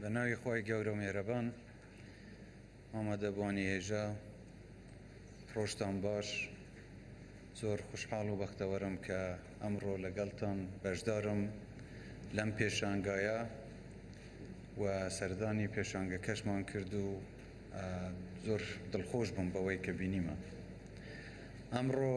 بەناوی خۆی گەورە و مێرەبان ئامادەبووانی هێژا ڕۆژتان باش زۆر خوشحاڵ و بەختەوەرم کە ئەمڕۆ لەگەڵتان بەشدارم لەم پێشانگایە و سەردانی پێشانگەکەشمان کرد و زۆر دڵخۆش بووم بەوەی کە بینیمە ئەمڕۆ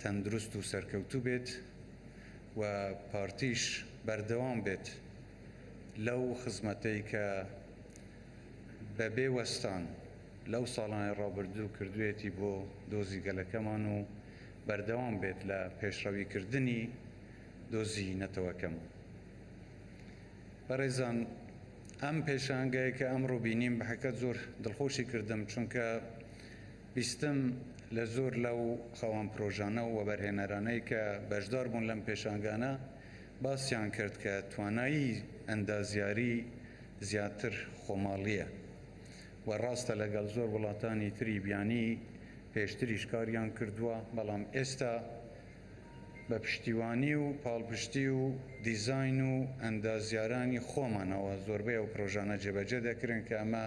تەندروست و سەرکەوتوو بێت و پارتیش بەردەوام بێت لەو خزمەتەی کە بە بێ وەستان لەو ساڵانەی ڕابردوو کردوویەتی بۆ دۆزی گەلەکەمان و بەردەوام بێت لە پێشڕەوی کردنی دۆزی نەتەوەکەم. بەڕێزان ئەم پێشانگای کە ئەمڕۆ بینیم بەحەقیقەت زۆر دڵخۆشی کردم چونکە، بیستم لە زۆر لەو خەوان پرۆژانە و وەبەرهێنەرانەی کە بەشدار بوون لەم پێشانگانە باسیان کرد کە توانایی ئەندازیاری زیاتر خۆماڵییە و ڕاستە لەگەڵ زۆر وڵاتانی تری بیانی پێشتریش کاریان کردووە بەڵام ئێستا بە پشتیوانی و پاڵپشتی و دیزاین و ئەندازیارانی خۆمانەوە زۆربەی ئەو پرۆژانە جێبەجێ دەکرێن کە ئەمە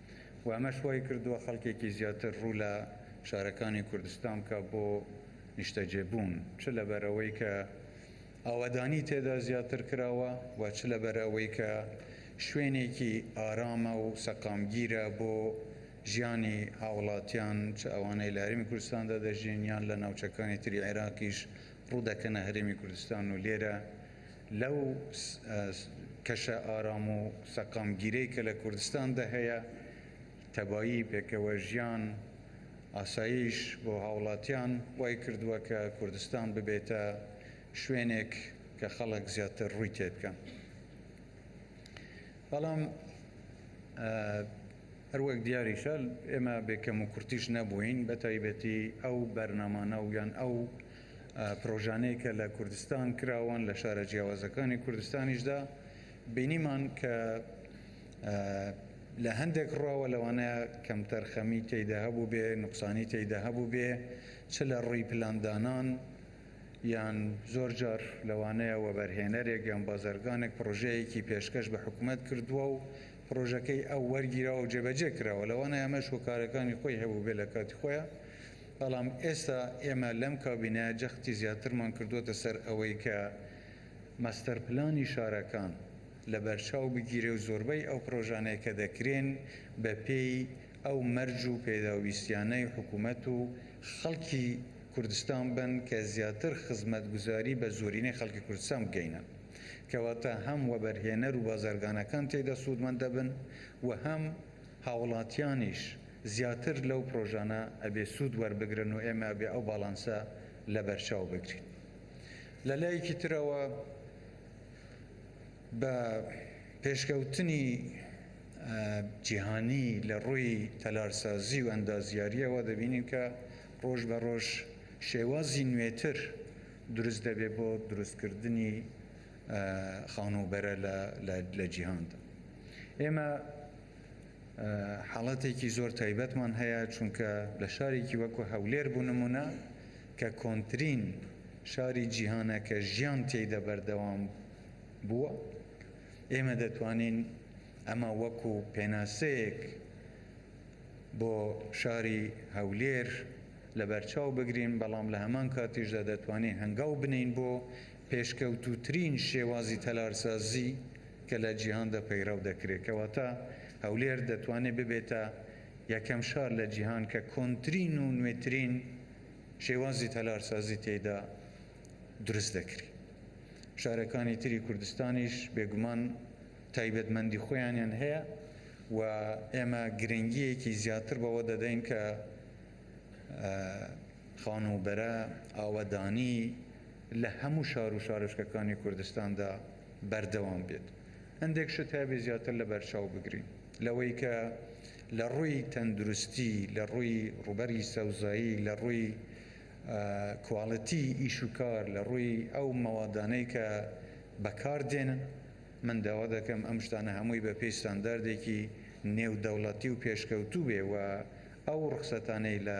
و ئەمەش وای کردووە خەڵکێکی زیاتر ڕوو لە شارەکانی کوردستان بکات بۆ نیشتەجێ بوون چ لەبەر ئەوەی کە ئاوەدانی تێدا زیاتر کراوە و چ لەبەر ئەوەی کە شوێنێکی ئارامە و سەقامگیرە بۆ ژیانی هاوڵاتیان چ ئەوانەی لە هەرێمی کوردستاندا دەژین یان لە ناوچەکانی تری عێراقیش ڕوو دەکەنە هەرێمی کوردستان و لێرە لەو کەشە ئارام و سەقامگیرەی کە لە کوردستاندا هەیە، تەبایی، پێکەوەژیان، ئاسایش بۆ هاوڵاتیان وای کردووە کە کوردستان ببێتە شوێنێک کە خەڵک زیاتر ڕووی تێبکەن. بەڵام هەروەک دیاریشە ئێمە بێ کەموکورتیش نەبووین، بەتایبەتی ئەو بەرنامانە و یان ئەو پرۆژانەی کە لە کوردستان کراوەن لە شارە جیاوازەکانی کوردستانیشدا بینیمان کە لە هەندێک ڕاوە لەوانەیە کەمتەرخەمی تێیدا هەبوو بێ نقصانی تێیدا هەبوو بێ چ لە ڕووی پلاندانان یان زۆر جار لەوانەیە وەبەرهێنەرێک یان بازرگانێک پرۆژەیەکی پێشکەش بە حکوومەت کردووە و پرۆژەکەی ئەو وەرگیراوە و جێبەجێ کراوە لەوانە ئەمەش هۆکارەکانی خۆی هەبوو بێ لە کاتی خۆیان بەڵام ئێستا ئێمە لەم کابینەیە جەختی زیاترمان کردووەتە سەر ئەوەی کە ماستەرپلانی شارەکان لەبەرچاو بگیرێ و زۆربەی ئەو پڕۆژانەی کە دەکرێن بە پێی ئەو مەرج و پێداویستیانەی حکوومەت و خەڵکی کوردستان بن کە زیاتر خزمەتگوزاری بە زۆرینەی خەڵکی کوردستان بگەینن کەواتە هەم وەبەرهێنەر و بازرگانەکان تێیدا سوودمەند دەبن و هەم هاوڵاتیانیش زیاتر لەو پرۆژانە ئەبێ سوود وەربگرن و ئێمە ئەبێ ئەو باڵانسە لەبەرچاو بگرین. لە لایەکی ترەوە بە پێشکەوتنی جیهانی لە ڕووی تەلارسازی و ئەندازیارییەوە دەبینین کە ڕۆژ بە ڕۆژ شێوازی نوێتر دروست دەبێ بۆ دروستکردنی خانووبەرە لە جیهاندا. ئێمە حاڵەتێکی زۆر تایبەتمان هەیە، چونکە لە شارێکی وەکو هەولێر بۆ نمونە کە کۆنترین شاری جیهانە کە ژیان تێیدا بەردەوام بووە، ئێمە دەتوانین ئەمە وەکو پێناسەیەک بۆ شاری هەولێر لەبەرچاو بگرین، بەڵام لە هەمان کاتیشدا دەتوانین هەنگاو بنێین بۆ پێشکەوتووترین شێوازی تەلارسازی کە لە جیهاندا پەیڕەو دەکرێت، کەواتە هەولێر دەتوانێت ببێتە یەکەم شار لە جیهان کە کۆنترین و نوێترین شێوازی تەلارسازی تێیدا دروست دەکرێت. شارەکانی تری کوردستانیش بێگومان تایبەتمەندی خۆیانیان هەیە و ئێمە گرنگییەکی زیاتر بەوە دەدەین کە خانووبەرە، ئاوەدانی، لە هەموو شار و شارۆچکەکانی کوردستاندا بەردەوام بێت. هەندێک شت هەیە زیاتر لەبەرچاو بگرین لەوەی کە لە ڕووی تەندروستی، لە ڕووی ڕووبەری سەوزایی، لە ڕووی کواڵیتی ئیش و کار، لە ڕووی ئەو مەوادانەی کە بەکار دێن، من داوا دەکەم ئەم شتانە هەمووی بە پێی ستانداردێکی نێودەوڵەتی و پێشکەوتوو بێ و ئەو ڕوخسەتانەی لە.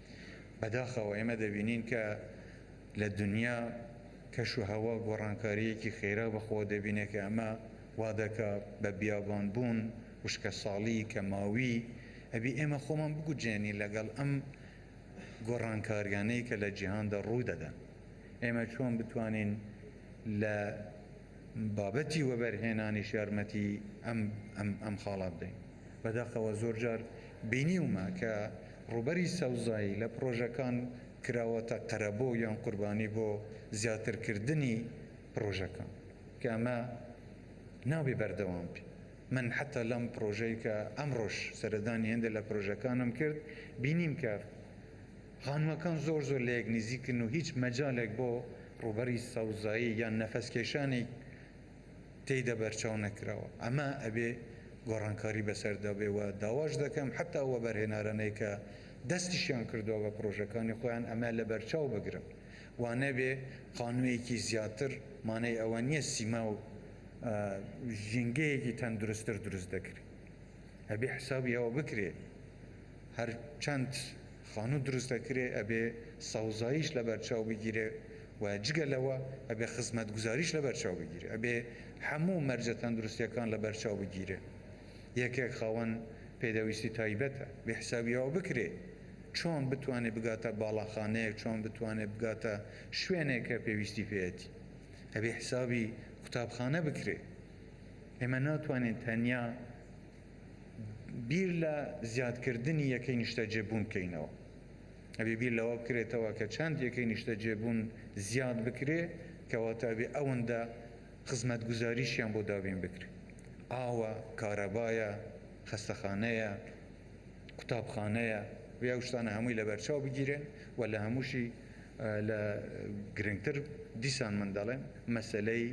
بەداخەوە ئێمە دەبینین کە لە دونیا کەش و هەوا گۆڕانکارییەکی خێرا بەخۆوە دەبینێ کە ئەمە وا دەکا بە بیابان بوون، وشکەساڵی، کەماوی. ئەبی ئێمە خۆمان بگونجێنین لەگەڵ ئەم گۆڕانکارییانەی کە لە جیهاندا ڕوو دەدەن. ئێمە چۆن بتوانین لە بابەتی وەبەرهێنانیش یارمەتی ئەم خاڵە بدەین؟ بەداخەوە زۆرجار بینیومە کە ڕووبەری سەوزایی لە پڕۆژەکان کراوەتە قەرەبۆ یان قوربانی بۆ زیاترکردنی پڕۆژەکان کە ئەمە نابێ بەردەوام بێ من حەتا لەم پڕۆژەی کە ئەمڕۆش سەردانی هێندێ لە پڕۆژەکانم کرد بینیم کە خانووەکان زۆر زۆر لە یەک نزیکن و هیچ مەجالێک بۆ ڕووبەری سەوزایی یان نەفەسکێشانی تێیدا بەرچاو نەکراوە ئەمە ئەبێ گۆڕانکاری بەسەردا بێ و داواش دەکەم حەتا ئەو وەبەرهێنارانەی کە دەستیشیان کردوە بە پرۆژەکانی خۆیان ئەمە لەبەرچاو بگرن و نەبێ خانویەکی زیاتر مانای ئەوە نیە سیما و ژینگەیەکی تەندروستتر دروست دەکرێ ئەبێ حسابی ئەوە بکرێ هەرچەند خانوو دروست دەکرێ ئەبێ سەوزاییش لەبەرچاو بگیرێ و جگە لەوە ئەبێ خزمەتگوزاریش لەبەرچاو بگیرێ ئەبێ هەموو مەرجە تەندروستیەکان لەبەرچاو بگیرێ یەکێک خاوەن پێدەویستی تایبەتە بێ حسابی ئەوە بکرێ چۆن بتوانێ بگاتە باڵاخانەیەک چۆن بتوانێ بگاتە شوێنێک کە پێویستی پێیەتی ئەبێ حسابی قوتابخانە بکرێ ئێمە ناتوانین تەنیا بیر لە زیادکردنی یەکەی نیشتەجێبوون بکەینەوە، ئەبێ بیر لەوە بکرێتەوە کە چەند یەکەی نیشتەجێبوون زیاد بکرێ کەواتە ئەبێ ئەوەندە خزمەتگوزاریشیان بۆ دابین بکرێ، ئاوە، کارەبایە، خەستەخانەیە، قوتابخانەیە، ئەبێ ئەو شتانە هەمووی لەبەرچاو بگیرێن و لە هەمووشی لە گرنگتر دیسان من دەڵێم مەسەلەی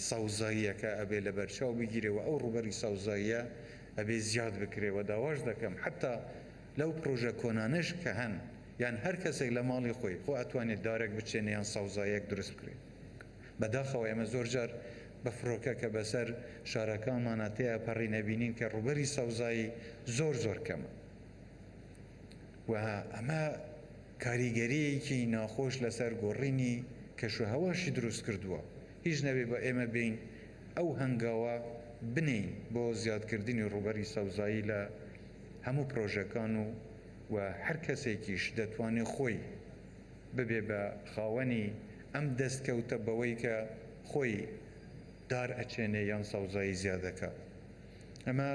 سەوزاییەکە ئەبێ لەبەرچاو بگیرێ و ئەو ڕووبەری سەوزاییە ئەبێ زیاد بکرێ و داواش دەکەم حەتا لەو پڕۆژە کۆنانەش کە هەن یان هەر کەسێک لە ماڵی خۆی خۆ ئەتوانێ دارێک بچێنێ یان سەوزاییەک دروست بکرێ بەداخەوە ئێمە زۆر جار بە فڕۆکە کە بەسەر شارەکانمانە تێئەپەڕین ئەبینین کە ڕووبەری سەوزایی زۆر زۆر کەمە. و ئەمە کاریگەرییەکی ناخۆش لەسەر گۆڕینی کەشوهەواشی دروست کردووە، هیچ نەبێ بە ئێمە بێین ئەو هەنگاوە بنێین بۆ زیادکردنی ڕووبەری سەوزایی لە هەموو پرۆژەکان و و هەر کەسێکیش دەتوانێ خۆی ببێ بە خاوەنی ئەم دەستکەوتە بەوەی کە خۆی دار ئەچێنێ یان سەوزایی زیاد ئەکا. ئەمە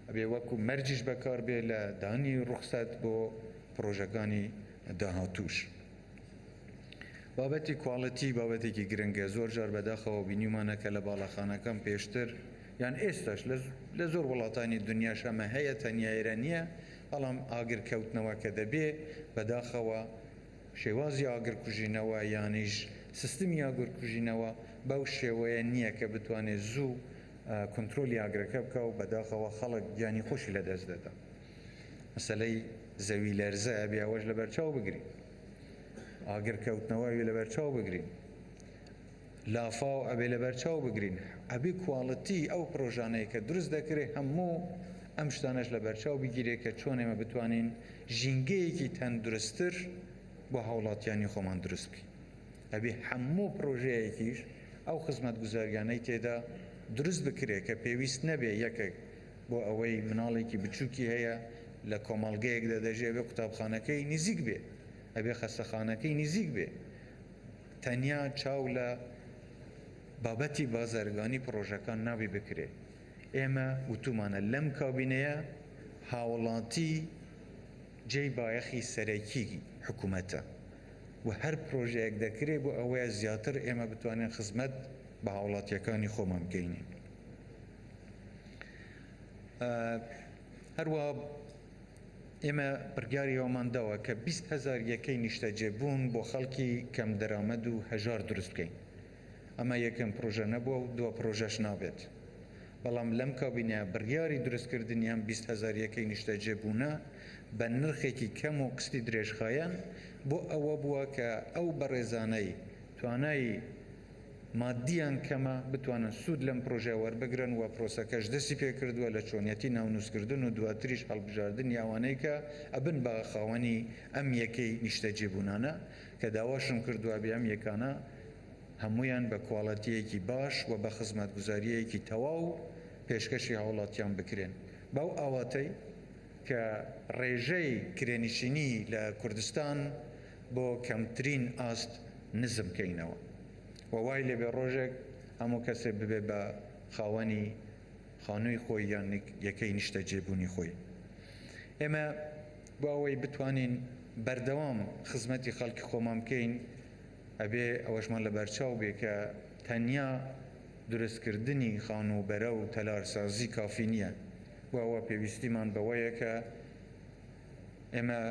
ئەبێ وەکو مەرجیش بەکار بێ لە دانی ڕوخسەت بۆ پڕۆژەکانی داهاتووش. بابەتی کواڵیتی بابەتێکی گرنگە، زۆر جار بەداخەوە بینیومانە کە لە باڵەخانەکان پێشتر یان ئێستاش لە زۆر وڵاتانی دنیاش ئەمە هەیە تەنیا ئێرە نییە، بەڵام ئاگر کەوتنەوە کە دەبێ بەداخەوە شێوازی ئاگر کوژینەوە یانیش سیستمی ئاگر کوژینەوە بەو شێوەیە نییە کە بتوانێ زوو کونترۆلی ئاگرەکە بکا و بەداخەوە خەڵک گیانی خۆشی لە دەست دەدا. مەسەلەی زەوی لەرزە ئەبێ ئەوەش لە بەرچاو بگرین. ئاگر کەوتنەوە ئەبێ لە بەرچاو بگرین. لافاو ئەبێ لە بەرچاو بگرین. ئەبێ کواڵتی ئەو پرۆژانەی کە دروست دەکرێ هەموو ئەم شتانەش لە بەرچاو بگیرێ کە چۆن ئێمە بتوانین ژینگەیەکی تەندروستتر بۆ هاوڵاتیانی خۆمان دروست بکەین. ئەبێ هەموو پڕۆژەیەکیش ئەو خزمەتگوزاریانەی تێدا دروست بکرێ کە پێویست نەبێ یەکەک بۆ ئەوەی مناڵێکی بچووکی هەیە لە کۆمەڵگەیەکدا دەژێ ئەبێ قوتابخانەکەی نیزیک بێ ئەبێ خەستەخانەکەی نیزیک بێ تەنیا چاو لە بابەتی بازرگانی پڕۆژەکان نابێ بکرێ ئێمە وتومانە لەم کابینەیە هاوڵاتی جێی بایەخی سەرەکی حکومەتە. و هەر پرۆژەیەک دەکرێت بۆ ئەوەیە زیاتر ئێمە بتوانین خزمەت بە هاوڵاتییەکانی خۆمان بکەینی. هەروا ئێمە بڕیاری ئەومان داوە کە بیست هەزار یەکەی نیشتەجێبوون بۆ خەڵکی کەم دەرامەد و هەژار دروست بکەین. ئەمە یەکەم پرۆژە نەبووە و دوا پرۆژەش نابێت، بەڵام لەم کابینەیە بڕیاری دروستکردنی ئەم بیست هەزار یەکەی نیشتەجێبوونە بە نرخێکی کەم و قستی درێژخایەن بۆ ئەوە بووە کە ئەو بەڕێزانەی توانای ماددییان کەمە بتوانن سوود لەم پرۆژە وەربگرن و پرۆسەکەش دەستی پێکردووە لە چۆنیەتی ناونووسکردن و دواتریش هەڵبژاردنی ئەوانەی کە ئەبن بە خاوەنی ئەم یەکەی نیشتەجێبوونانە کە داواشم کردوابێ ئەم یەکانە هەموویان بە کواڵێتییەکی باش و بە خزمەتگوزارییەکی تەواو پێشکەشی هاوڵاتیان بکرێن بەو ئاواتەی کە ڕێژەی کرێنشینی لە کوردستان بۆ کەمترین ئاست نزم کەینەوە و وای لێبێ ڕۆژێک هەموو کەسێ ببێ بە خاوەنی خانووی خۆی یان یەکەی نیشتەجێ بوونی خۆی. ئێمە بۆ ئەوەی بتوانین بەردەوام خزمەتی خەڵکی خۆمان بکەین ئەبێ ئەوەشمان لە بەرچاو بێ کە تەنیا دروست کردنی خانوو بەرە و تەلار سازی کافی نییە بۆ ئەوە پێویستیمان بەوەیە کە ئێمە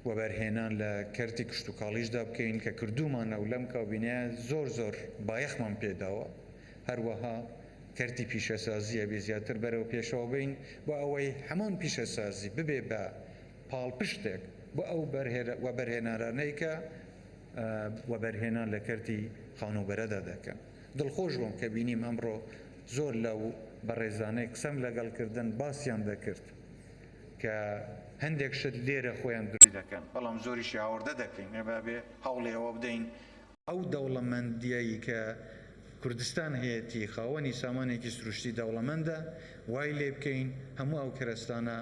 وەبەرهێنان لە کەرتی کشتوکاڵیشدا بکەین کە کردومانە و لەم کابینەیە زۆر زۆر بایەخمان پێداوە. هەروەها کەرتی پیشەسازی ئەبێ زیاتر بەرەو پێشەوە بەین بۆ ئەوەی هەمان پیشەسازی ببێ بە پاڵپشتێک بۆ ئەو وەبەرهێنارانەی کە وەبەرهێنان لە کەرتی خانووبەرەدا دەکەن. دڵخۆش بووم کە بینیم ئەمڕۆ زۆر لەو بەڕێزانەی قسەم لەگەڵ کردن باسیان دەکرد کە هەندێک شت لێرە خۆیان دروست دەکەن بەڵام زۆریشی هاوردە دەکەین ئەبێ هەوڵی ئەوە بدەین ئەو دەوڵەمەندییەی کە کوردستان هەیەتی، خاوەنی سامانێکی سروشتی دەوڵەمەندە، وای لێ بکەین هەموو ئەو کەرەستانە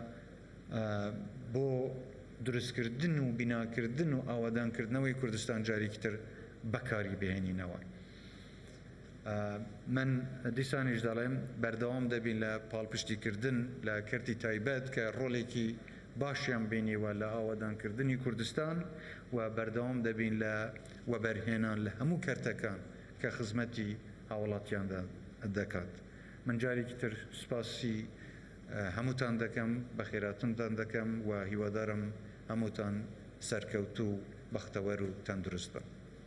بۆ دروستکردن و بیناکردن و ئاوەدانکردنەوەی کوردستان جارێکی تر بەکاری بهێنینەوە. من دیسانیش دەڵێم بەردەوام دەبین لە پاڵپشتی کردن لە کەرتی تایبەت کە ڕۆڵێکی باشیان بینیوە لە ئاوەدانکردنی کوردستان و بەردەوام دەبین لە وەبەرهێنان لە هەموو کەرتەکان کە خزمەتی هاوڵاتیان دەکات. من جارێکی تر سوپاسی هەمووتان دەکەم، بەخێراتنتان دەکەم و هیوادارم هەمووتان سەرکەوتوو و بەختەوەر و تەندروست بن.